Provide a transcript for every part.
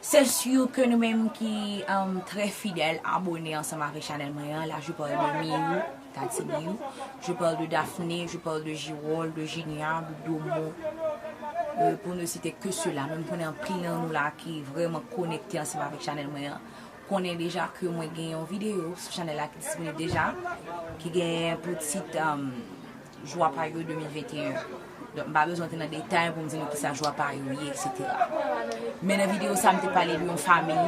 Se sur ke nou menm ki trè fidèl abone ansanm avèk chanèl mwen an, la je parle de Miyou, Tati Miyou, je parle de Daphné, je parle de Girol, de Jinia, de Domo, pou ne site ke sila, men m konnen anpil nan nou la ki vrèman konekte ansanm avèk chanèl mwen an, konnen deja ke mwen gen yon videyo sou chanèl la ki disponib deja, ki gen pou tit. Jwa pa yo 2021 Donk m pa bezwen antre nan detay pou m di nou kisa jwa pa yo ye eksetera. Men nan videyo sa m te pale de yon famiy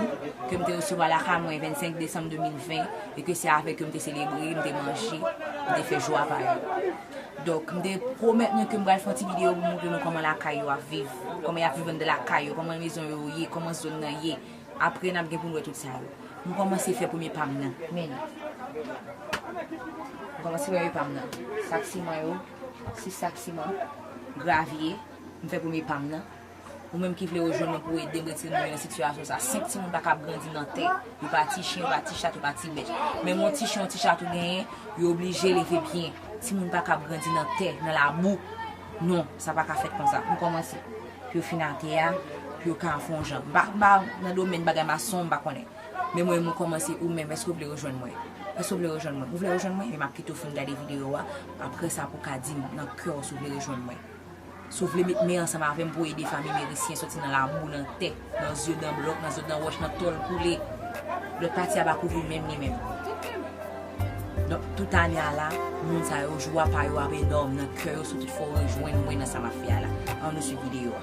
ke m te resevwa lakay mwen 25 desanm 2020 e ke se avèk yo m te selebre, m te manje, m te fè jwa pa yo. Donk m te pwomèt nou ke m pral fè yon ti videyo pou m montre nou kòman lakay yo ap viv, kòman y ap viv anndan lakay yo, kòman mezon yo ye, kòman zòn nan ye. Apre nap gen poun wè tout sa yo. M kòmanse fè premye pam nan. Men. M kòmanse fè premye pam nan. Sak siman yo. 6 sak siman. Gravye. M fè premye pam nan. Ou menm ki vle rejwenn mwen pou edem retire moun yo nan sitiyasyon sa. 5 timoun pa kab grandi nan tè. Yo pa ti chen, yo pa ti chat, yo pa ti bèt. Menm yon ti chen, yon ti chat ou genyen, yo oblije leve byen. Timoun pa kab grandi nan tè, nan labou. Non, sa pa ka fèt konsa. M kòmanse. Pou yo fin atè a, pou yo ka fon jan. M pa m pa nan domèn bagay mason, m pa konnen. Men mwen mwen kòmanse ou menm èske ou vle rejwenn mwen? Èske ou vle rejwenn mwen? Ou vle rejwenn mwen? Ebyen m ap kite ou fin gade videyo a, aprè sa pou w ka di m nan kè w si w vle rejwenn mwen. Si w vle met men ansanm avè m pou w ede fanmi Merisyen soti nan labou, nan tè. Nan zye dan blòk, nan zye dan wòch, nan tòl koule. Lòt pati a pa kouvri menm li menm. Donk, tout ane a la, moun sa yo, jwa pa yo ap enòm nan kè yo sou tout fò rejwenn mwen nan sa m ap fè a la. An nou swiv videyo a.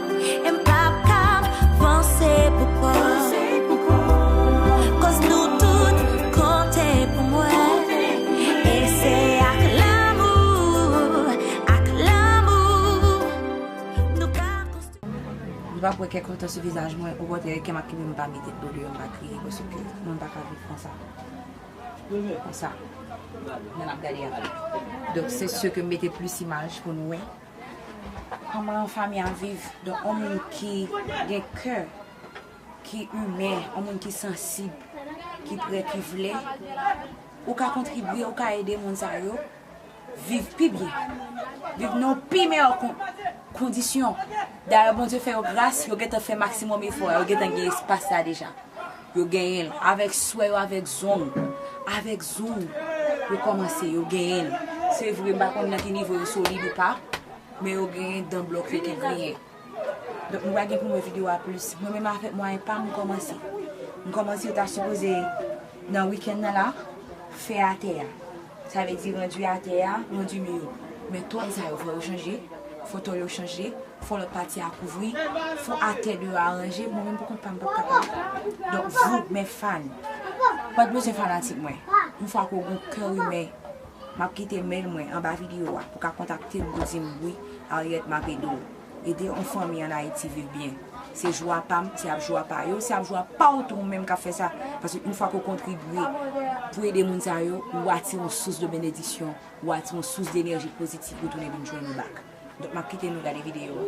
Li pa pou wè kèk lontan sou vizaj mwen, okontrè kè m ap kenbe m pa mete dlo deyò m pa kriye paske mwen pa ka viv konsa. Konsa. Nan m ap gade a. Donk se sè ke m mete plis imaj pou nou wè. Koman yon fanmi ap viv, donk yon moun ki gen kè, ki imen, yon moun ki sansib, ki pre, ki vle, ou ka kontribye, ou ka ede moun sa yo viv pi byen, viv nan yon pi meyè kondisyon. Dayè Bondye fè yo gras, yo gentan fè maksimòm efò, yo gentan gen espas la deja. Yo genyenl avèk swè yo avèk zong avèk zong yo kòmanse yo genyenl se vre m pa konn nan ki nivo yo solid ou pa men yo genyen dan blòk yo ki griyen donk nou pa gen pou nou wè video a plis mwen menm avèk mwayen pam m kòmanse m kòmanse yo ta sipoze nan weekend nan la fè atè a. Sa vle di rendu atè a rendu mi yo. Men tòn sa yo fò yo chanje, fò tòn yo chanje, fò lòt pati a kouvri, fò atè deyò a ranje, mwen menm pou kont pa m pap kapab. Donk vou, mes fans, pat bezwen fanatik mwen, yon fwa ke w gen yon kè imè, m ap kite mail mwen anba video a pou ka kontakte m pou di m wi Ariette m ap ede w. Ede on fanmi an Ayiti viv byen. Se jwa pa m, se ap jwa pa yo, se ap jwa pa w tou ou menm k ap fè sa. Paske yon fwa ke w kontribye pou w ede moun sa yo, ou atire yon sous de benediksyon, ou atire yon sous de enèji pozitif pou tounen vin jwenn ou bak. Donk m ap kite nou gade videyo an.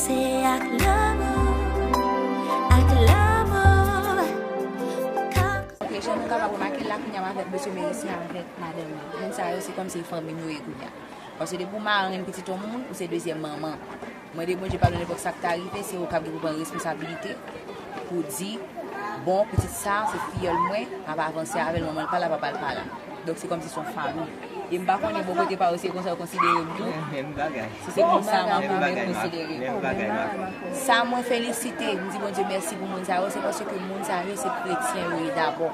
Se ak lanmou, ak lanmou ou ka. Ok jan nou kapab remake la kounya mwen avèk mesye Merisyen avèk madanm li moun sa yo se kòmsi fanmi nou ye kounya paske depi ou marenn pitit yon moun ou se dezyèm manman mande Bondye padon nenpòt sak ta rive se ou kap gen pou pran responsabilite pou di bon pitit sa se fiyòl mwen map avanse avèl manmanl pala papal pala donk se kòmsi son fanmi. E m pa konnen bò kote pa ou se konsa yo konsidere m tou. Menm bagay. Si se konsa Mako mèt konsidere m. Sa mwen felisite, m di Bondye mèsi pou moun sa yo, se paske moun sa yo se kretyen yo ye dabò.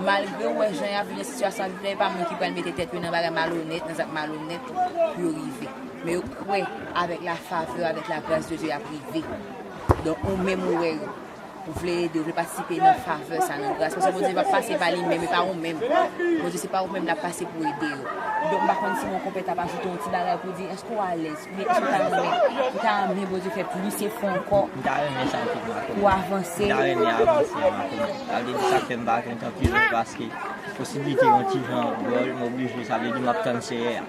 Malgre ou wè jan y ap viv nan sitiyasyon y ap viv la, e pa moun ki pral mete tèt yo nan bagay malonèt, nan zak malonèt pou yo rive. Men yo kwè avèk lafavè, avèk lagras de Dye y ap rive. Donk ou menm ou wè yo. Ou vle ede, ou vle patisipe nan favè sa, nan gras. Paske Bondye pa pase pa li menm, e pa ou menm. Bondye se pa ou menm l ap pase pou ede yo. Donk m pa konn si Monkonpè ta pa ajoute yon ti bagay pou di, èske w alèz? Oubyen èske w ta renmen? Ou ta renmen Bondye fè plis efò ankò? M ta renmen sa anpil Marco. Pou w avanse? M ta renmen avanse a Marco. Sa vle di sa k fè m pa jwenn tan priye paske posiblite yon ti jan dwòl m oblije, sa vle di m ap tann Seyè a.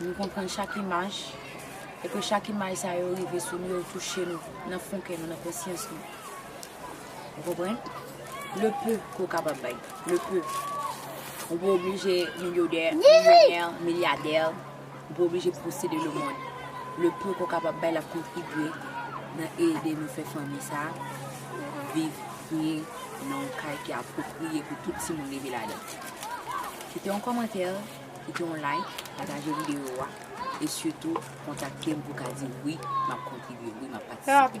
Nou konprann chak imaj, e ke chak imaj sa yo rive sou nou, yo touche nou nan fon kè nou, nan konsyans nou. Ou konprann? Le peu ke w kapab bay. Le peu. Ou pa oblije milyodè, milyonè, milyadè. Ou pa oblije posede le mond. Le peu ke w kapab bay la kontribye nan ede nou fè fanmi sa a viv byen nan yon kay ki apwopriye pou tout timoun leve ladan. Kite yon kòmantè. Kite yon like, pataje video a e sitou kontakte m pou ka di wi map kontribye, wi map patisipe.